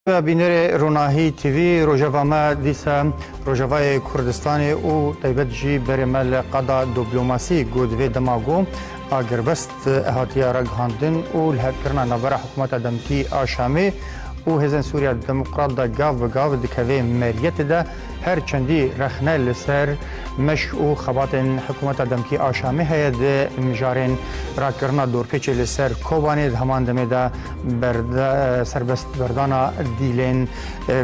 Bînerê Ronahî TV, rojeva me dîsa Rojavayê Kurdistanê û taybet jî berê me li qada doplomasî ku di vê dema got agirbest hatiye ragihandin û li hevkirina navbera hikûmeta demkî a Şamê û Hêzên Sûriya Demokrat de gav bi gav dikeve meriyetê de, Her çendî rexne li ser meşk û xebatên hikûmeta demkî a Şamê heye di mijarên rakirina dorpêçê li ser Kobanê di heman demê de serbestberdana dîlên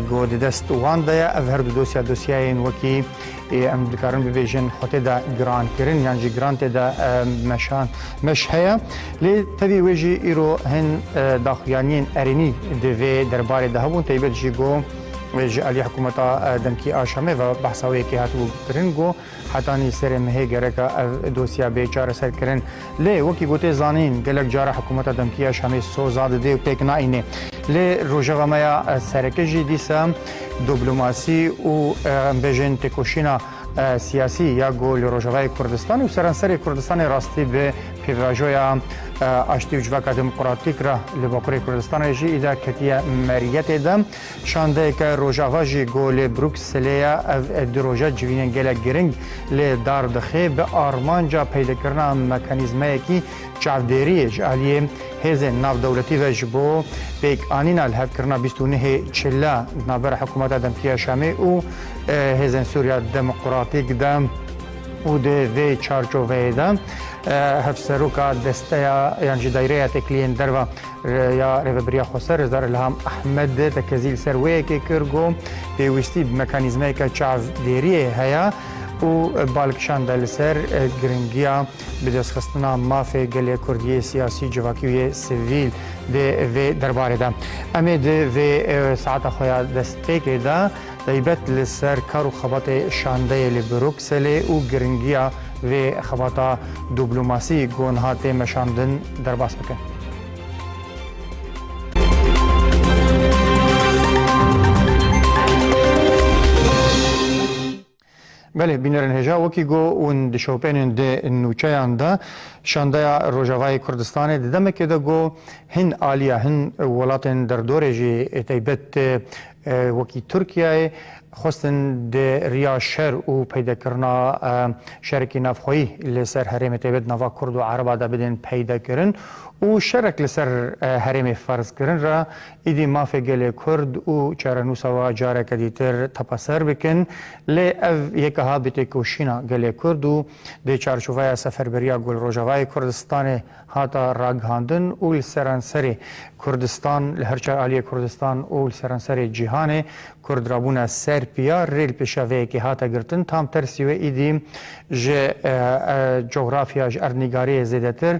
ku di dest wan de ye. Ev herdu dosya dosyayên wekî em dikarin bibêjin xwe tê de girankirin yan jî giran tê de meşan meş heye. Lê tevî wê jî îro hin daxuyaniyên erênî di vê derbarê de hebûn taybet jî ku Ji aliyê hikûmeta demkî a Şamê ve behsa wê yekê hatibû kirin got hetanî serê mehê gereka ev dosya bê çareser kirin. Lê wekî got ê zanîn gelek cara hikûmeta demkî ya Şamê soza dide û pêk naîne. Lê rojeva me ya sereke jî dîsa doplomasî û em bêjin têkoşîna siyasî ya ku li Rojavayê Kurdistanê û seranserê Kurdistanê rastî bi pêvajoya aştî û civaka demokratîk re li Bakurê Kurdistanê jî îda ketiye meriyetê de. Şandeyeke Rojava jî ku li Brukselê ye ev du roje civînên gelek giring lê dar dixê bi armanca peydekirina mekanîzmeyekî Çavdêriyê ji aliyê hêzên navdewletî ve ji bo pêkanîna li hev kirina bîst û nehê çila di navbera hikûmeta Dempiya Şamê û Hêzên Sûriya Demokratîk de û di vê çarçoveyê de Hevseroka Desteya yan jî Dayreya Têkiliyên Derve ya Rêveberiya Xweser Rêzdar Îlham Ehmed tekezî li ser wê yekê kir ku pêwîstî bi mekanîzmeyeke çavdêriyê heye û bal kişande li ser giringiya Bi destxistina mafê gelê Kurdî yê siyasî, civakî û yê sivîl dê vê derbarê de em ê di vê saeta xwe ya destpêkê de taybet li ser kar û xebatê şandeyê li Brukselê û giringiya vê xebata dublomasî ku niha tê meşandin derbas bikin. Belê, bînerên hêja wekî got hûn di şopênên di nûçeyan de şandaya Rojavayê Kurdistanê di demekê de got hin aliya hin welatên derdorê jî taybet wekî Tirkiyeyê xwestin di riya şer û peydekirina şerekî navxweyî li ser herêmê taybet nava Kurd û Ereba de bidên peydekirin û şerek li ser herêmê ferzkirin re Êdî mafê gelê Kurd û çarenûsa we careke dîtir tepeser bikin. Lê ev yek aha bi têkoşîna gelê Kurd û di çarçoveya Seferberiya Gul Rojavayê Kurdistanê hata ragihandin û li seranserê Kurdistan, li her çar aliyê Kurdistan û li seranserê cîhanê Kurd re bûne ser piya. Rê li pêşeveyekê hate girtin. Tam tersî wê êdî ji cografya, ji erdnîgariyê zêdetir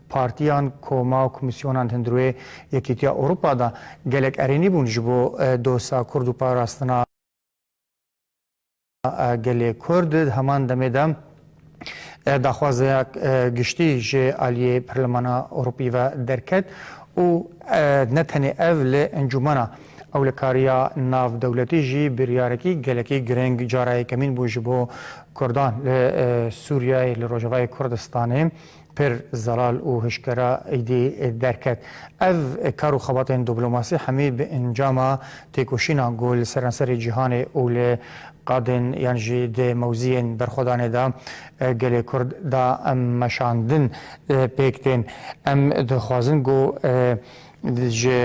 Partiyan, koma û komîsyonan hin di rûyê Yekîtiya Ewropa de gelek erênî bûn ji bo dosa kurd û parastina gelê kurd. Di heman demê de daxwazeya giştî ji aliyê Perlemana Ewropî ve derket û ne tenê ev li Encûmena Ewlekariya Navdewletî jî biryarekî gelekî girîng cara yekemîn bû ji bo kurdan li Sûriyeyê, li Rojavayê Kurdistanê Pir zelal û hişkera êdî derket. Ev kar û xebatên diplomasî hemî bi encama têkoşînan ku li seranserê cîhanê û li qadên yan jî di mewziyên berxwedanê de gelê Kurd da meşandin pêk tên. Em dixwazin ku ji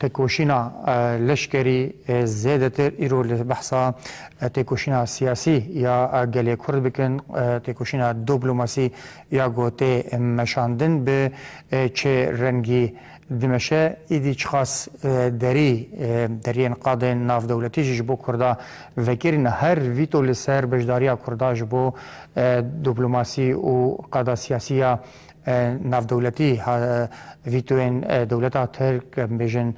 Têkoşîna leşkerî zêdetir îro li behsa têkoşîna siyasî ya gelê Kurd bikin, têkoşîna doplomasî ya ku tê meşandin bi çi rengî dimeşe, îdî çiqas derî deriyên qadên navdewletî jî ji bo Kurda vekirîna her vîto li ser beşdariya Kurda ji bo doplomasî û qada siyasî ya navdewletî vîtoyên dewleta Tirk, em bêjin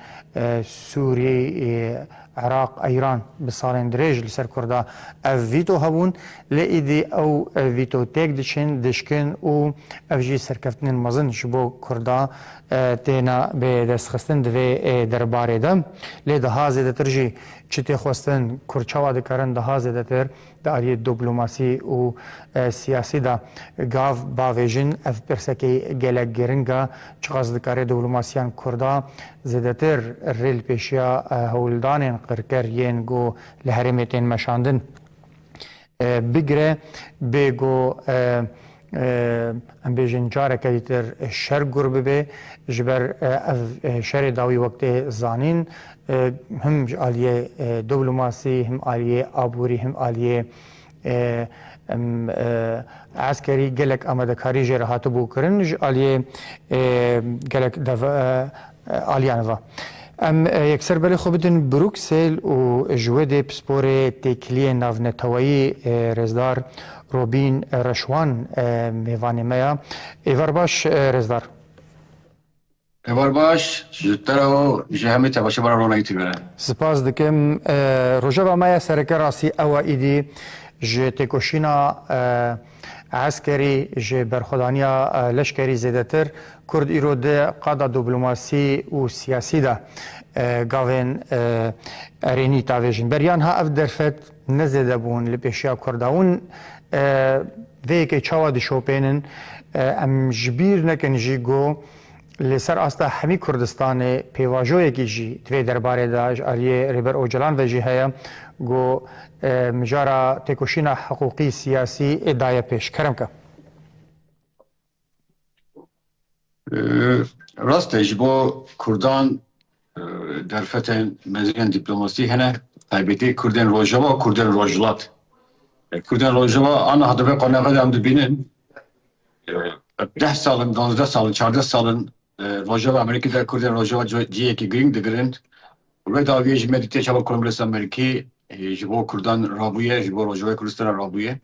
Sûrî, Iraq, Îran bi salên dirêj li ser Kurda ev vîto hebûn lê îdî ew vîto têk diçin, dişkin û ev jî serkeftinên mezin ji bo Kurda têne bi dest xistin di vê derbarê de. Lê daha zêdetir jî çi tê xwestin, Kurd çawa dikarin daha zêdetir, Di aliyê doplomasî û siyasî de gav bavê jin ev pirsekî gelek giring e, çiqas dikare doplomasîyan kurda zêdetir rê li pêşiya hewldanên qirker yên ku li herêmê tên meşandin bigire bê ku Em bêjin careke dîtir şer gur bibe ji ber ev şerê dawî wek tê zanîn him ji aliyê diblomasî him aliyê aborî him aliyê eskerî gelek amadekarî jê re hatibû kirin ji aliyê gelek Aliyan va, Em yekser belê xwe bidin Brûksel û ji wê dê pisporê têkiliyên navneteweyî Rêzdar Robîn Reşwan mêvanê me ya. Êvar baş Rêzdar. Êvar baş ji te re û ji hemî tevaşê me re rona YouTube re. Sipas dikim. Rojeva me ya sereke rastî ew e îdî ji têkoşîna. Eskerî ji berxwedaniya leşkerî zêdetir, Kurd îro di qada doplomasî û siyasî de gavên erênî tavêjin. Beriya niha ev derfet ne zêde bûn li pêşiya Kurd e. Hûn vê yekê çawa dişopênin? Em ji bîr nekin jî ku Li ser asta hemî Kurdistanê pêvajoyekî jî di vê derbarê de ji aliyê Rêber Ocalan ve jî heye ku mijara têkoşîna hiqûqî, siyasî ê daye pêş. Kerimke. Rast e ji bo Kurdan Derfetên mezin dîplomasî hene, taybetî Kurdên Rojava û Kurdên Rojhilat. Kurdên Rojava ana hedefê qonaxê de em dibînin. Deh sal in, duwazdeh sal in, çardeh sal in Rojava Amerîkî de Kurdên Rojava cihekî girîng digirin. Wê dawiyê ji me dîtiye çawa Kongresa Amerîkî ji bo Kurdan rabûye, ji bo Rojavayê Kurdistana rabûye.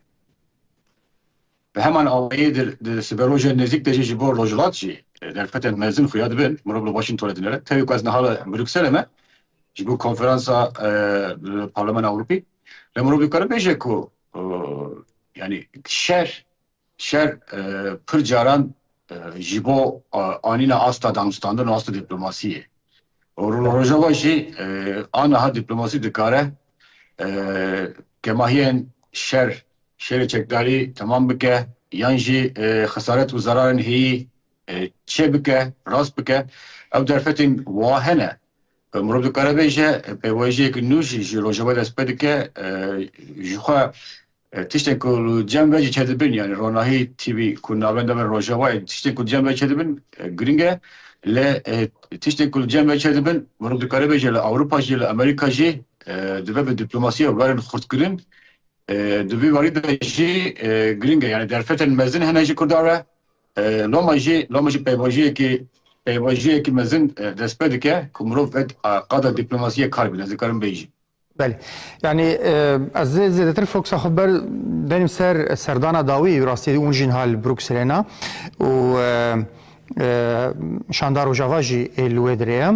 Bi heman awayî di siberojên nêzîk de jî ji bo Rojhilat jî derfetên mezin xuya dibin, mirov li Washingtonê dinêre. Tevî ku ez niha li Brukselê me ji bo konferansa li Parlemena Ewropî, lê mirov dikarin bêje ku yanî şer şer pir caran ji bo anîna asta danûstandin û asta dîplomasiyê û li Rojava jî aniha dîplomasî dikare kemahiyên şer Şerê çekdarî temam bike yan jî xesaret û zerarên heyî çêbike, rast bike. Ew derfetên wiha hene. Mirov dikare bêje pêwayîjiyek nû jî ji rojava dest pê dike. Ji xwe tiştên ku li cem ve jî çêdibin yanî ronahî tîbî ku navên da bin rojavayê tiştên ku li cem ve çêdibin girîng e. Lê tiştên ku li cem ve çêdibin mirov dikare bêje li Ewropa jî li Amerîka jî dibe bi dîplomasiya werin xurtkirin Di vî warî de jî girîng e yanî derfetên mezin hene ji Kurdan re. Loma jî loma jî peyvajiyekî peyvajiyekî mezin dest pê dike ku mirov vet qada dîplomasiyê kar bîne ez dikarim bêjim. Belê. Yanî ez zê zêdetir foksa xwe ber denîm ser serdana dawî rastiyê û jîn hal Brukselê na û Şanda Rojava jî ê li wê dirê ye.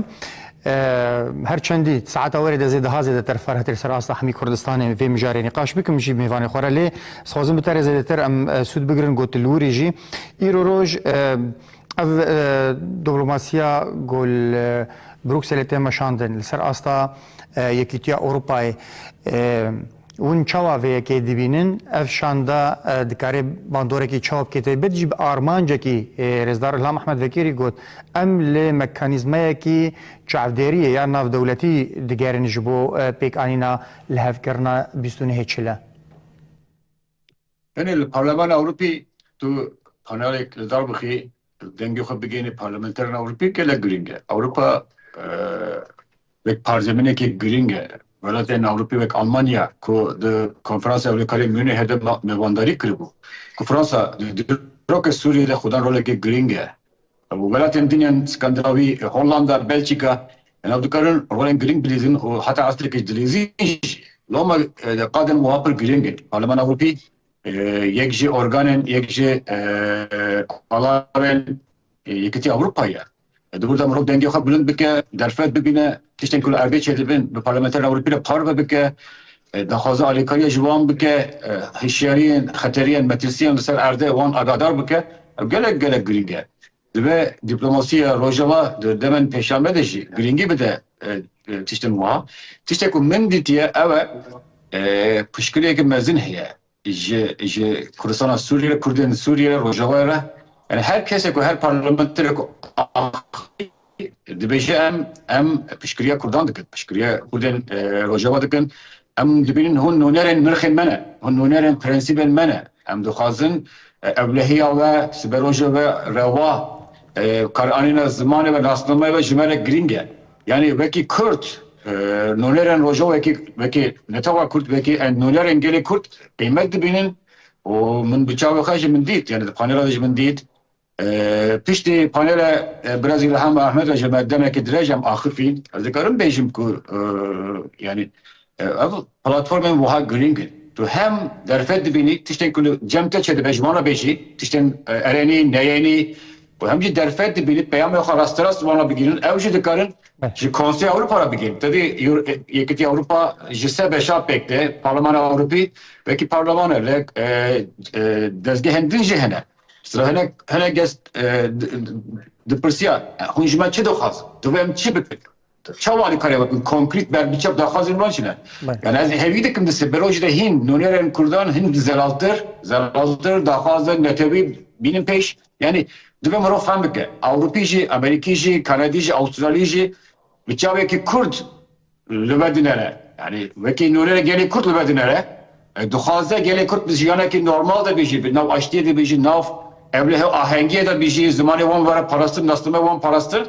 Her çendî saeta werê de zêde ha zêdetir ferhtir ser asta hemî Kurdistanê vê mijarê nîqaş bikim jî mêvanê xwe re lê dixwazim bi terê zêdetir em sûd bigirin got li wirî jî îro roj ev diplomasîya ku li Brukselê tê meşandin li ser asta Yekîtiya Ewropayê. Hûn çawa vê yekê dibînin? Ev şanda dikarê bandorekî çawa bike taybet jî bi armancekî Rêzdar Ilham Ehmed Vekêrî got, Em li mekanîzmayekî çavdêriyê ya navdewletî digerin ji bo pêkanîna lihevkirina bîst û nehê çile. Tenê li Parlemana Ewropî tu panelek li dar bixî, dengê xwe bigênî parlamenterên Ewropî gelek girîng e. Ewropa wek parzeminekê girîng e. Welatên Ewropî wek Almanya ku di Konferansa Ewlekariyê Mûnihê de mevandarî kiribû, ku Fransa di dîroka Sûriyê de xwe dan rolekê girîng e. Welatên din yên Skandinavî, Hollanda, Belçîka nav dikarin rolên girîng bilîzin û heta astrekî dilîzîn jî. Loma di qadên wiha pir girîng in. Parlemana Ewropî yek ji organên, yek ji alavên Yekîtiya Ewropayê ye. Dibû de mirov dengê xwe bilind bike, derfet bibîne. Tiştên ku li erdê çêdibin bi Parlamenterên Ewropî re parve bike, daxwaza alîkariya ji wan bike, hişyariyên xeteriyên metirsiyan li ser erdê wan agadar bike, ev gelek gelek girîng e. Divê dîplomasiya Rojava di demên pêşanbe de jî girîngî bide tiştên wiha. Tiştê ku min dîtiye ew e pişkirêk mezin heye. Ji ji Kurdistana Sûriyê, Kurdên li Sûriyê, Rojavayê re yanî her kesê ku her parlamenterê ku axivî dibêje em em piştgiriya Kurdan dikin, piştgiriya Kurdên Rojava dikin. Em dibînin hûn nûnerên nirxên me ne, hûn nûnerên prensîbên me ne. Em dixwazin ewlehiya we, siberoja we, rewa, karianîna zimanê we, nasnameyê we ji me re girîng e. Yanî wekî Kurd nûnerên rojavayekî wekî netewa Kurd wekî nûnerên gelê Kurd qîmet dibînin û min bi çavê xwe jî min dît yanî di panela de jî min dît piştî panela Biraz Îlham Ahmed re ji me demekî dirêj em axifîn ez dikarim bêjim ku yanî Ev platformên wiha girîng in. Tu hem derfet dibînî tiştên ku li cem te çêdibe ji wan re bêjî, tiştên erenî, neyênî û hem jî derfet dibînî peyamên xwe rasterast ji wan re bigihînin. Ew jî dikarin ji Konseya Ewropa re bigihînin. Tevî Yekîtiya Ewropa ji sê beşa pêk tê. Parlemana Ewropî wekî parleman e lê dezgehên din jî hene. Sila hinek hinek kes dipirsiya hûn ji me çi dixwazin? Divê em çi bikin? Çawa li kare wekî konkrît berbiçav daxwazên wan çi ne? Yani ez hevî dikim di seberojî de hîn nûnerên kurdan hin zelaltir zelaltir daxwazên netewî bînin pêş. Yani divê mirov fem bike ewropî jî, amerîkî jî, kanedî jî, awstralî jî bi çavekî kurd li vir dinere. Yani wekî nûnerê gelê kurd li vir dinere Dixwaze gelê Kurd bi jiyanekî normal de bijî, bi navaştiyê de bijî, nav ew lê hew ahengiyê de bijî, zimanê wan were parastin, naslame wan parastin.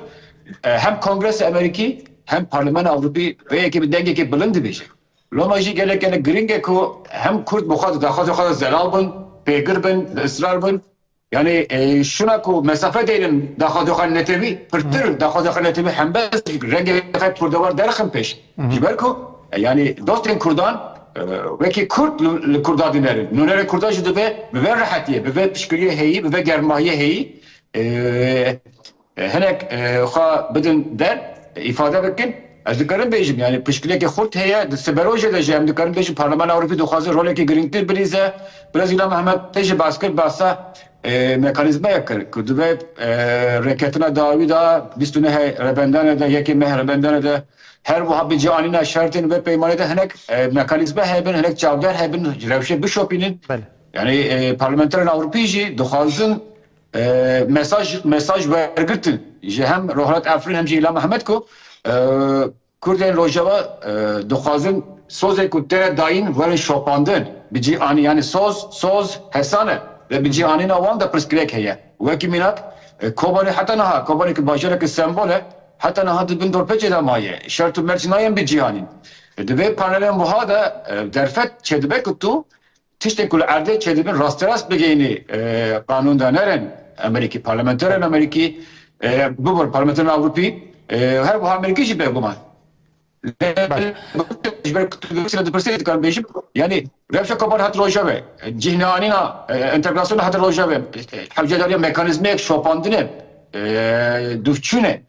Hem Kongresa Amerîkî hem Parlemena Ewropî vê yekê bi dengekî bilind dibêjin. Loma jî gelek gelek giring e ku hem Kurd bi xwe de daxwazên xwe de zelal bin, pêgir bin, li israr bin. Yanî şûna ku mesafe deynin daxwazexan netewî pirtir daxwazexan netewî hembes jî rengê xebt kurdewar derxin pêş ji ber ku yanî dostên kurdan wekî kurd li kurdan dinerin nûnerê kurdan jî divê bi vê rehetiyê bi vê pişkiriyê heyî bi vê germahiyê heyî Hinek xwe bidin der, îfade bikin. Ez dikarim bêjim, yanî piştgirêkê xurt heye. Di siberojê de jî em dikarin bêjin Parlemana Ewropî dixwaze rolekê girîngtir bilîze. Brezîla Mehmet tê jî bas kir, basa mekanîzmayek kir ku divê rêketina dawî de bîst û neh rebendanê de, yekê meh rebendanê de her wiha bi cianîna şertên vê peymanê de hinek mekanîzma hebin, hinek çavdar hebin ji rewşê bişopînin. Yanî parlementerên Ewropî jî dixwazin Mesaj mesaj wergirtin ji hem Rojhilat Efrîn hem jî Îlham Mehmet ku Kurdên Rojava dixwazin sozên ku te dayîn werin şopandin bi cî anîn yanî soz soz hesa ne ve bi cî anîna wan de pirsgirêk heye wekî mînak Kobanê heta niha Kobanê ku bajareke sembol e heta niha di bin dorpêçê de maye şert û mert jî nayên bi cî anîn. Di vê panelên wiha de derfet çêdibe ku tu Tiştên ku li erdê çêdibin rasterast bigeyînî qanûn danerin Amerîkî, parlamenterên Amerîkî bibin parlamenterên Ewropî û her wiha Amerîkî jî bêguman. Ji ber kutulgirtî re dipirsê dikarim bêjim yanî rewşa koparî hate rojevê, cih neanîna entegrasyonê hate rojevê, hewcedarîya mekanîzmeyek şopandinê dûvçûnê.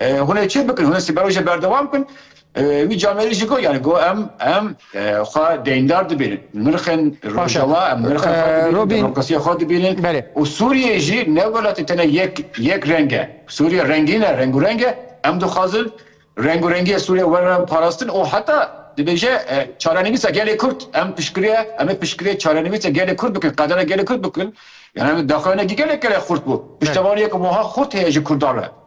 Hûn ê çi bikin? Hûn ê sibero jî berdewam bikin? Wî camerî jî got, yanî got em em xwe deyndar dibînin. Nirxên Rojava, em nirxên xwe dibînin, demokrasiya xwe dibînin û Sûriyeyê jî ne welatê tenê yek yek reng e. Sûriye rengîn e, rengûreng e. Em dixwazin rengûrengiya Sûriye were parastin û heta dibêje çarenivîsa gelê Kurd. Em piştgirê, em ê piştgirê çarenivîsa gelê Kurd bikin, qedera gelê Kurd bikin. Yanî daxuyanekî gelek gelek xurt bû. Piştevaniyeke wiha xurt heye ji Kurdan re.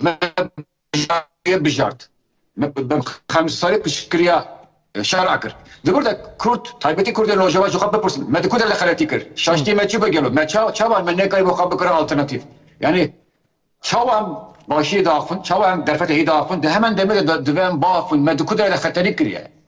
Me bijartiye bijart. Me bi xemsarî piştgiriya şera kir. Di wir de kurd, taybetî kurdên rojava ji xwe bipirsin, me di ku der de xeletî kir? Şaştiyê me çi bû gelo? Me ça, çawa me nekarî bo xwe bikirin alternatîf? Yanî çawa em başiyê diaxivin, çawa em derfetê heyî diaxivin? Di heman demê de divê em biaxivin, me di ku der de xeterî kiriye?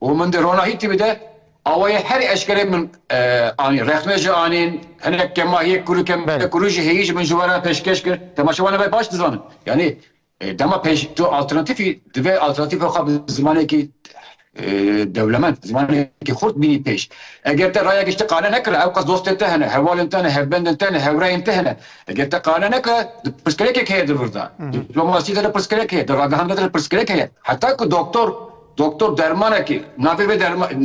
Û min di rona Hîtîbî de awayê herî eşkerê min anî. Rexne jî anîn, hinek kemahiyê kûr û kemkûrû jî heyî ji min ji we re pêşkêş kir. Temaşe wan e me baş dizanin. Yanî dema pêş tu alternatîfî divê alternatîfa xwe bi zimanekî dewlemend, zimanekî xurt bînî pêş. Eger te rayek ji te qane nekire, ewqas dostên te hene, hevalên te ne, hevbendên te ne, hevrêyên te hene. Eger te qane nekire, di pirsgirêkek heye di vir de. Dîplomasî de di pirsgirêk heye, di ragihandina de di pirsgirêk heye. Heta ku doktor. Doktor dermanekî navê vê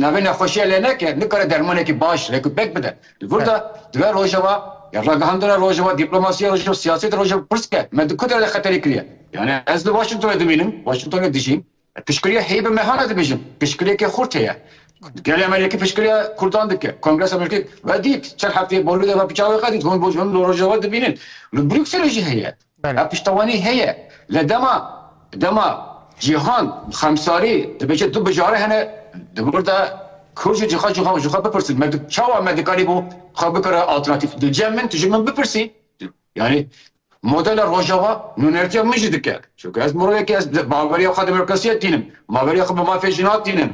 navê nexweşiya lê neke, nikare dermanekî baş lê ku pêk bide. Li vir de divê rojava ya ragihandina rojava, dîplomasiya rojava, siyaseta rojava pirs bike, me di ku derdê xeterê kiriye? Yanî ez li Washingtonê dimînim, Washingtonê dijîm, piştgiriya heyî mehan e dibêjin, piştgiriyeke xurt heye. Gelê Amerîkî piştgiriya kurdan dike, Kongresa Amerîkî ve dît, çend hefteyê Bolûdê ve piça wê qedît, hûn li rojava dibînin. Li Brukselê jî heye. Bela piştewanî heye lê dema dema cîhan bi xemsarî dibêje du bijare hene di vir de kur jî jixwe jixwe jixwe bipirsin me çawa me dikarîbû xwe bikire alternatîf di cem min tu ji min bipirsî yanî modela rojava nûnertiya min jî dike çunke ez mirovekî ez baweriya xwe demokrasiyê dînim. Baveriya xwe bi mafê jin natînim.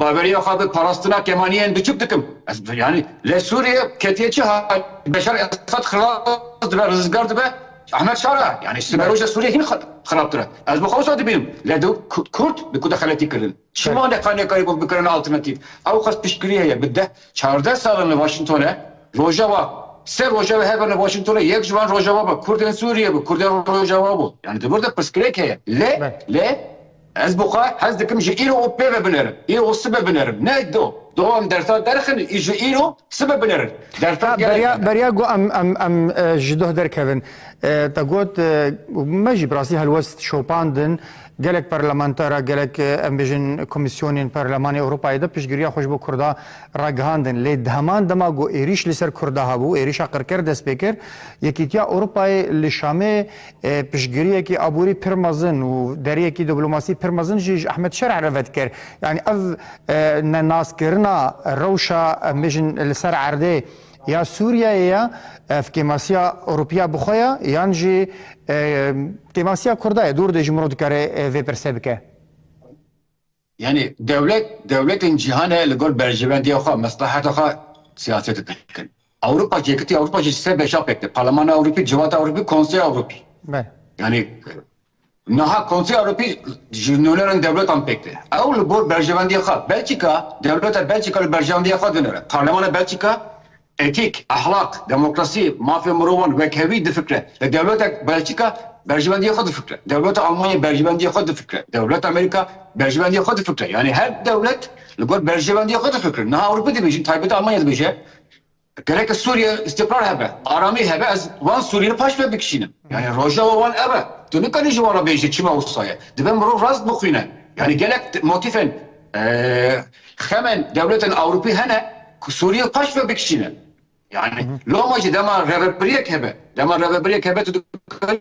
Baveriya xwe bi parastina kemaniyên biçûk dikim. Ez yanî lê Sûriye ketiye çi halê? Beşar Esad xilas dibe, rizgar dibe, Ehmed Şara yanî siberoja Sûriyê hîn xirabtir e. Ez bi xwe wisa dibînim. Lê di kurd di ku de xeletî kirin. Çima ne xwe nêkarî bikin alternatîf? Ew xwest piştgirî heye bi deh Çardeh sal in li Washington e. Rojava. Sê roja wê hebin li Washington e. Yek ji wan Rojava bû. Kurdên Sûriyê bû. Kurdên Rojava bû. Yanî di vir de pirsgirêk heye. Lê, lê ez bi xwe hez dikim ji îro û pê ve binêrim. Îro û sibê binêrim. Ne do. Do em dersa derxin û ji îro sibê binêrin. Dersa gelek hene. Beriya ku em, em, em ji doh derkevin. Te got, me jî bi rastî helwest şopandin. Gelek parlamenter, gelek em bêjin komîsyonên Parlemanê Ewropayê de piştgiriya xwe ji bo Kurda ragihandin. Lê di heman dema ku êrîş li ser Kurda hebû, êrîşa qirker dest pê kir, Yekîtiya Ewropayê li Şamê piştgiriyekî aborî pir mezin û deriyekî diplomasî pir mezin jî ji Ehmed Şerh re vedikir. Yanî ev ne naskirina rewşa em bêjin li ser erdê, Ya Sûriyeyê ye ev kêmasiya Ewropîya bi xwe ye yan jî kêmasiya Kurda ye dûr de ji min re dikare vê pirse bike. Yanî dewlet dewletên cîhanê li gor berjevendiya xwe mesleheta xwe siyaset dikin. Ewropa cekitî Ewropa jî sê beşa pêk tê, Parlemana Ewropî, Civata Ewropî, Konseya Ewropî. Yanî Niha Konseya Ewropî ji nûnerên dewletan pêk tê. Ew li gor berjewendiya xwe Belçîka, dewleta Belçîka li berjewendiya xwe dinêre. Parlemana Belçîka etîk, ehlak, demokrasî, mafê mirovan wekhevî difikre. Lê dewleta Belçîka berjewendiya xwe difikre. Dewleta Almanya berjewendiya xwe difikre. Dewleta Amerîka berjewendiya xwe difikre. Yanî her dewlet li gor berjewendiya xwe difikrin. Niha Ewropî dibêjin, taybet Almanya dibêje, Gereke Sûriye îstîqrar hebe, aramî hebe, ez wan Sûriyî paş ve bikişînim. Yanî rojeva wan ev e. Tu nikarî ji wan re bêjî çima wisa ye. Dibe mirov rast bixwîne. Yanî gelek motîfên xemên dewletên Ewropî hene ku Sûriyî paş ve bikişîne. Yanî loma jî dema revebirîyek hebe, dema revebirîyek hebe tu dikarî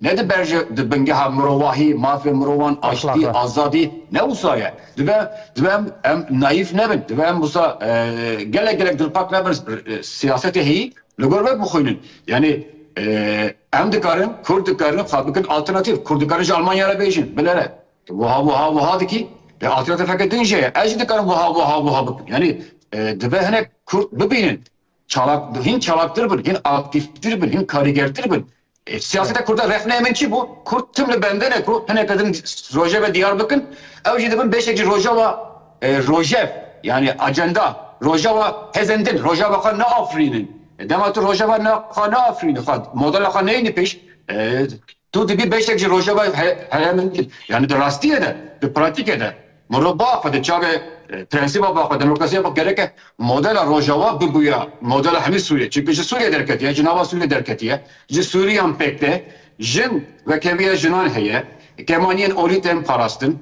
Ne di ber ji di bingeha mirovahî, mafê mirovan, aştî, azadî, ne wisa ye. Dibe dibe em em naîf nebin. Dibe em wisa gelek gelek dilpak nebin siyasetê heyî li gor we bixwînin. Yanî em dikarin, kurd dikarin xwe bikin alternatîf. Kurd dikarin ji Almanya re bêjin, bilere tu wiha wiha wiha dikî. Lê alternatîfeke din jê ye. Ez jî dikarim wiha wiha wiha bikim. Yanî dibe hinek kurd bibînin. Çalak bin, hîn çalaktir bin, hîn aktîftir bin, hîn karîgertir bin. E, siyaseta Kurda rexneyê min çi bû? Kurd tim li bendin e ku hineke din rojevê diyar bikin, ew jî dibin beşek jî rojava e, rojev yanî acenda, rojava hêzên din, rojava xwe neafirînin. E, dema tu rojava ne xwe neafirînî, xwe modela xwe neyînî pêş, e, Tu dibî beşek ji rojeva herêmin dibî. Yanî di rastiyê de, di pratîkê de mirov ba xwe di çavê prensîba ba xwe, demokrasiya ba xwe gereke modela rojava bibûya modela hemî Sûriyê. Çimkî ji Sûriyê derketiye, ji nava Sûriyê derketiye, ji Sûriyan pêk tê. Jin wekeviya jinan heye, kemaniyên olî tên parastin,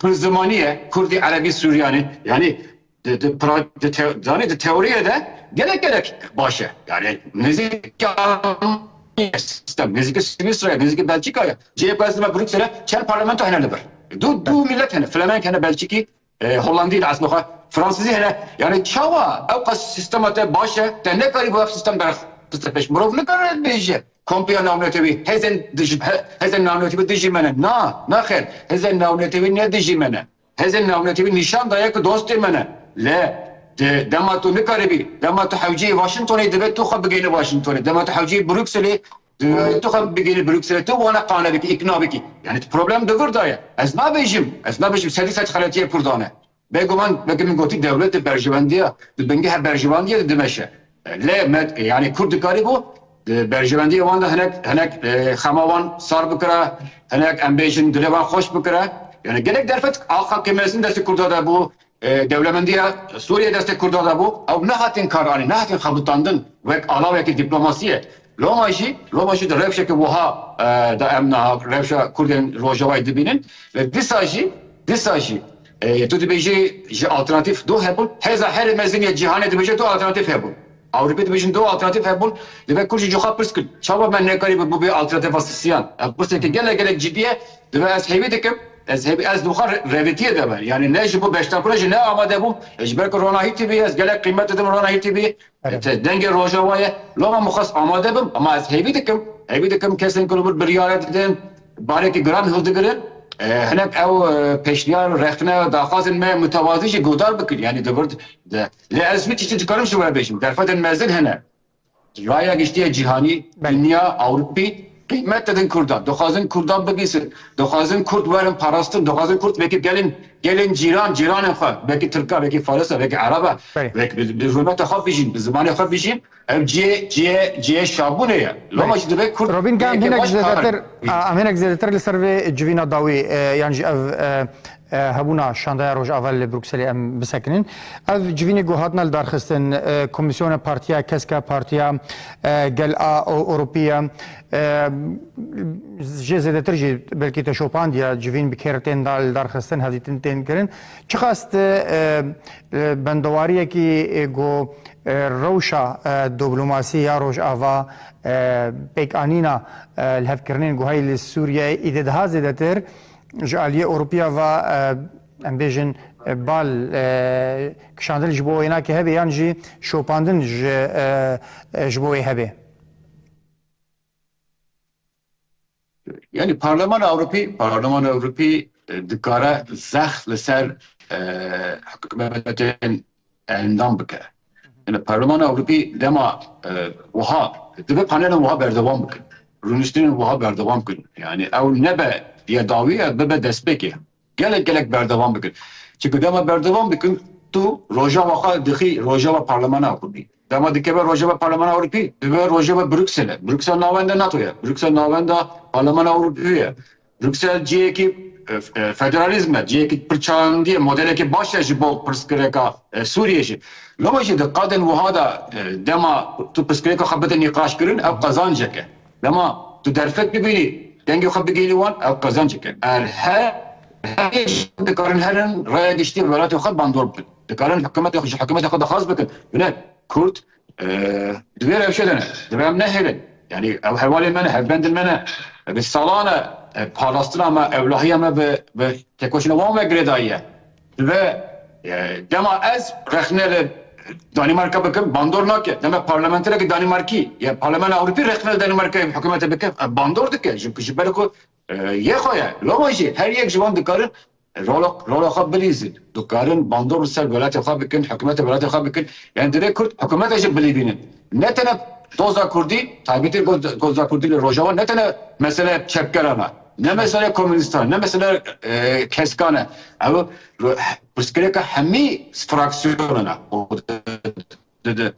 pir zimanî ye, kurdî, erebî, sûriyanî. Yanî Di di pra di te zanî di teoriyê de gelek gelek baş e. Yani nêzîkî Almanyayê sistem, nêzîkî Swîsrayê, nêzîkî Belçîkayê. Cihê ku ez dima Brûksele çar parlamento hene li vir. Du du mîlet hene, Flemenk hene, Belçîkî, Hollandî li eslê xwe, Fransîzî hene. Yani çawa ew qas sistema te baş e, te nekarîbû ev sistem derxiste pêş. Mirov nikare bêje kompiya navnetewî hêzên dij hêzên navnetewî dijî me ne. Na, na xêr. Hêzên navnetewî ne dijî me ne. Hêzên Navnetewî nîşan daye ku dostê me ne. Lê di dema tu nikaribî, dema tu hewceyî Washingtonê divê tu xwe bigênî Washingtonê, dema tu hewceyî Brukselê divê tu xwe bigênî Brukselê, tu wana qane bikî, îkna bikî. Yanî tu problem di vir de ye. Ez nabêjim, ez nabêjim sedî sed xeletiyê Kurdan e. Bêguman weke min gotî dewlet di berjewendiya, di bingeha berjewandiya de dimeşe. Lê yanî kûr dikarîbû di berjewendiyê wan de hinek hinek xema wan sar bikire, hinek em bêjin dilê wan xweş bikire. Yanî gelek derfet axa ke mezin destê Kurda de bû, dewlemendiya Sûriyeyê destê Kurda de bû, ew nehatin karanîn, nehatin xebitandin wek alaweke dîplomasiyê. Loma jî, loma jî di rewşeke wiha de em niha rewşa Kurdên Rojavayê dibînin. Lê dîsa jî, dîsa jî. Tu dibêjî ji alternatîf du hebûn, hêza herî mezin yê cîhanê dibêje du alternatîf hebûn. Ewropî dibêjin du alternatîf hebûn, divê kurd jî ji xwe pirs bkin, çawa me nekarî bi bûbê alternatifa sisiyan? Ev pirseke gelek gelek cidî ye, divê ez hêvî dikim, ez hêvî ez dixwixwe rêvîtiyê de be. Yanî ne ji bo beşdakirina jî ne amade bûm, ji ber ku Rona Hîtîvî ye, ez gelek qîmet didim Rona Hîtîvî, Te dengê Rojava ye. La min xwest amade bim, ama ez hêvî dikim, hêvî dikim kesên ku li wir biryare didin, barekî giran hildigirin, hinek ew pêşniyar, rexne, daxwazên me mutewazî jî guhdar bikin. Yanî di vir de. Lê ez hiçî tiştî dikarim ji we bêjim. Derfetên mezin hene. Raya giştî ya cîhanî, dinya, ewropî, Qîmet didin Kurdan, dixwazin Kurdan bigihîsin, dixwazin Kurd werin parastin, dixwazin Kurd wekî gelên gelên cîran, cîranên xwe, wekî Tirk e, wekî Faris e, wekî Ereb e, Belê. wek bi bi hurmeta xwe bijîn, bi zimanê xwe bijîn, ev cihê cihê cihê şabûnê ye. Loma Belê. jî divê Kurd Robîn Gam cihekê hinek baş karin. zêdetir, em hinek zêdetir li ser vê civîna dawî yan jî ev hebûna Şandaya Rojava li Brukselê em bisekinin. Ev civînê ku hatina li darxistin Komîsyona Partiya Keska Partiya Gel a Ewropî ye. Jê zêdetir jî belkî te şopandiye civîn bi kêr tên da li darxistin hevdîtin tên kirin. Çi xast bendewariyekî ku rewşa diblomasî ya Rojava pêkanîna li hevkirinên ku heyî li Sûriyeyê îdê daha zêdetir Ji aliyê Ewropîya ve em bêjin bal kişandin ji bo wênakê hebe yan jî şopandin ji bo wê hebe? Yanî Parlemana Ewropî Parlemana Ewropî dikare zext li ser hikûmetên endam bike. Li Parlemana Ewropî dema wiha dibe panelên wiha berdewam bikin, rûniştinên wiha berdewam bikin. Yanî ew nebe ya dawî ev bibe destpêkê gelek gelek berdewam bikin. Çimkî dema berdewam dikin tu rojava xwe dixî rojava Parlemana Ewropî. Dema dikeve rojava Parlemana Ewropî dibe rojava Brukselê. Bruksel navenda NATO'ye. Bruksel navenda Parlemana Ewropî ye. Bruksel ciyekî federalîzm e, ciyekî pir çandî ye, modelekî baş e ji bo pirsgirêka Sûriyê jî. Loma jî di qadên wiha de dema tu pirsgirêka xwe bide nîqaşkirin ew qezancek e. Dema tu derfet bibînî dengê xwe bigihînî wan ew qezancek e. Er he herî jin dikarin herin raya giştî welatê xwe bandor bikin. Dikarin hikumetê xwe ji hikumetê xwe dixwaz bikin. Bine Kurd Divê ev rewşe de ne. Divê em nehêlin. Yanî ew hevalên me ne, hevbendên me ne. Bi salan e parastina me, ewlahiya me bi têkoşîna wan ve girêdayî ye. Divê dema ez rexne li Danîmarka bikim bandor nake. Dema parlamenterekî Danîmarkî ya Parlemana Ewropî rexne li Danîmarkayê bi hikûmetê bike bandor dike. Ji ber ku Yê xwe ye. Loma jî her yek ji wan dikarin rola rola xwe bilîzin. Dikarin bandor li ser welatê xwe bikin, hikûmetê welatê xwe bikin. Yanî divê kurd hikûmete jî bilîvînin. Ne tene doza kurdî, taybetî doza kurdî li Rojava ne tene mesele çepkeran e. Ne mesele komûnîstan e, ne mesele keskan e. Ew pirsgirêka hemî fraksyonan e. Di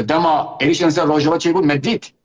dema êrîşên li ser Rojava çêbû me dît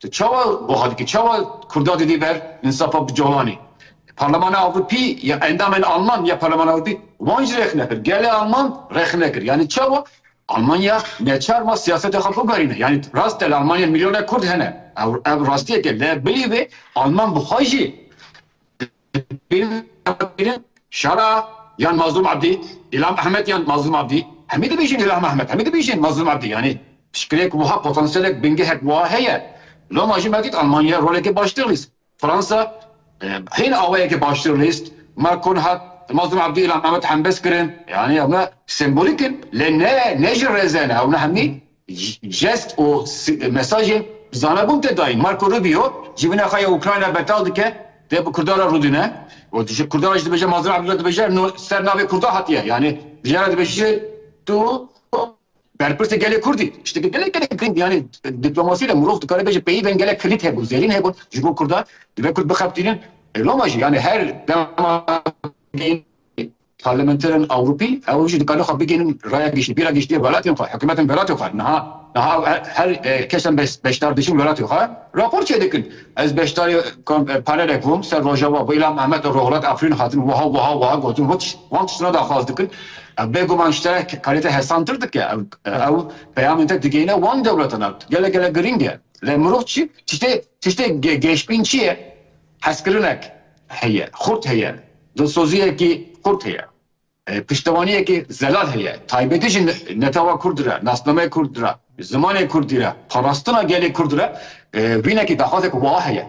Tu çawa buha dikî? Çawa kurda didî ber însafa bi colanê? Parlemana Ewropî ya endamên Alman ya Parlemana Ewropî wan jî rexne kir. Gelê Alman rexne kir. Yanî çawa? Almanya neçar ma siyasetê xwe biverîne. Yanî rast e li Almanya milyonek kurd hene. Ew ev rastiyek e. Lê bilî vê Alman bi xwe jî Şara yan Mazlûm Abdî, Îlham Ehmed yan Mazlûm Abdî, hemî dibêjin Îlham Ehmed, hemî dibêjin Mazlûm Abdî yanî pişkirêk wiha potansyelek bingehek wiha heye. Loma jî me dît Almanya rolekê baştir lîst, Fransa hîn awayekê baştir lîst, Macron hat Mazlûm Abdî Îlham Ehmed hembes kirin. Yanî ewne sembolîk in lê ne ne ji rêze ne ewne hemî Jest û mesajên bi zanebûn tê dayîn. Marco Rubio civîna xwe ya Ukrayna betal dike, dê bi Kurdan re rûdîne û ji Kurdan re jî dibêje Mazlum Abdullah dibêje no ser navê Kurdan hatiye yanî jiyan re dibêje tu berpirsê gelê Kurd î. Tiştekî gelek gelek giring yanî dîplomasî de mirov dikare bêje peyivên gelek kilît hebûn zêrîn hebûn ji bo Kurdan. Divê Kurd bixebitînin loma jî yanî her dema Parlamenterên Ewropî ew jî dikarin xwe bigihînin raya giştî, bîra giştî ya welatên xwe, hikûmetên welatên xwe. Niha niha ew her kesên beşdar dijîn welatê xwe rapor çêdikin. Ez beşdarî panelek bûm ser Rojava bi Îlham Ehmed û Rohilat Afrîn hatin wiha wiha wiha gotin û wan tiştine daxwaz dikin. Ev bêguman ji te kalîte hesantir dike. Ew peyamên te digihîne wan dewletan. Ev gelek gelek girîng e. Lê mirov çi? Tiştê tiştê gêşbîn çi ye? Hezkirinek heye, xurt heye, dilsoziyekî xurt heye, piştewaniyekî zelal heye, taybetî jî netewa kurdî re, nasnameyê kurdî re, zimanê kurdî re, parastina gelê kurdî re vînekî daxwazek wiha heye.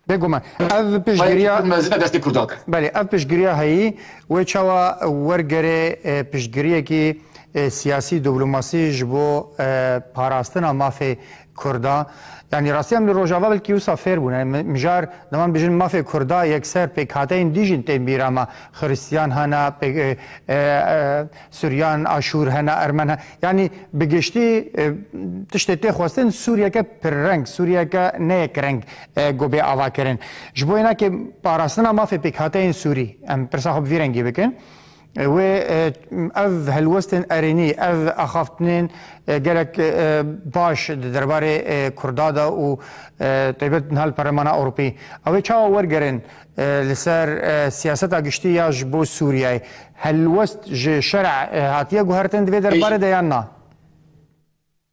Bêguman ev piştgiriya Kurd mezin e destê Kurdan e. Belê ev piştgiriya heyî wê çawa wergerê piştgiriyekî siyasî, dîplomasî ji bo parastina mafê Kurda, yanî rastiyan li Rojava belkî wisa fêr bûne. Mijar di wan bijin mafê Kurda yekser pêkhateyên dî jîn tên bîra me. Xiristiyan hene, Suryan, Aşûr hene, Ermen hene. Yanî bi giştî tiştê tê xwestin Sûriyeke pirreng, Sûriyeke ne yek reng got bê avakirin. Ji bo yena ke parastina mafê pêkhateyên Sûrî em pirsa xwe bi vî rengî bikin. Wê ev helwestên erênî, ev axaftinên gelek baş di derbarê Kurda de û taybet niha li Perlemana Ewropî ew ê çawa wergerin li ser siyaseta giştî ya ji bo Sûriyeyê? Helwest ji şerê hatiye guhertin di vê derbarê de yan na?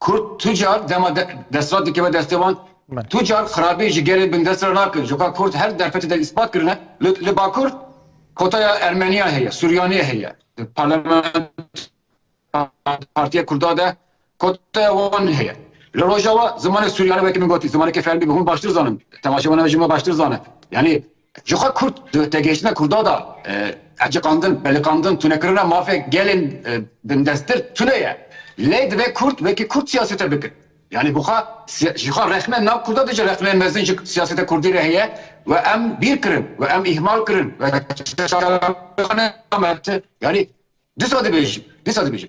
Kurd tu car dema desthilat dikeve destê wan, tu car xirabî ji gelê bindest re nakin. Coka kurd her derfetê de îspat kirine. Li Bakur kotaya Ermeniyan heye, Suryanê heye. Di parlamentoya Partiya Kurda de kotaya wan heye. Li Rojava zimanê Suryanê weke min gotî, zimaneke fermî bû. Hûn baştir zanin. Temaşevanê me ji min re baştir zane. Yanî Ji xwe Kurd di tegihiştina Kurda de eciqandin, peliqandin, tunekirina mafê gelên bindestir tune ye. Lê divê Kurd wekî Kurd siyasete bikin. Yanî bi xwe ji xwe rexne nav Kurda de jî rexneyên mezin ji siyaseta Kurdî re heye û em bîr kirin û em îhmal kirin û çalakiya xwe ne dame. Yanî dîsa dibêjin, dîsa dibêjin.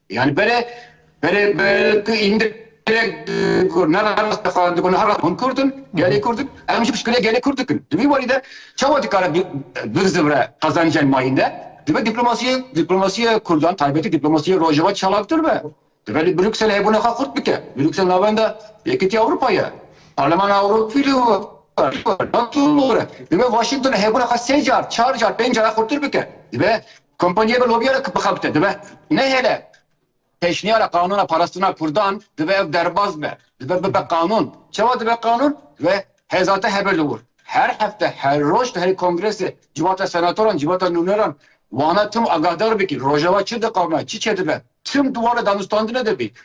Yanî berê berê ku îndr gelek dikur ne rast e xwe dikun ne herast. Hûn kurd in, gelê kurd in. Em jî piştgirê gelê kurd dikin. Di vî warî de çawa dikare bi bi zivre qezencên ma hîn de? Dibe dîplomasiyê dîplomasiyê kurdan taybetî dîplomasiyê rojava çalaktir be. Dibe li Brukselê hebûna xwe xurt bike. Bruksel navenda Yekîtî Ewropa ye. Parlemana Ewropî li we ye. Nato li we ye. Dibe Washington hebûna xwe sê car, çar car, pênc car a xurtir bike. Dibe Kompanyê bi lobîya re bixebite dibe nehêle. Pêşniyara qanûna parastina kurdan dibe ev derbas be, dibe bibe qanûn. Çawa dibe qanûn? Dibe hêza te hebe li wir. Her hefte, her roj tu herî kongresê civata senatoran, civata nûneran wana tim agahdar bikî. Rojava çi diqame, çi çêdibe tim di wana danûstandinê de bî.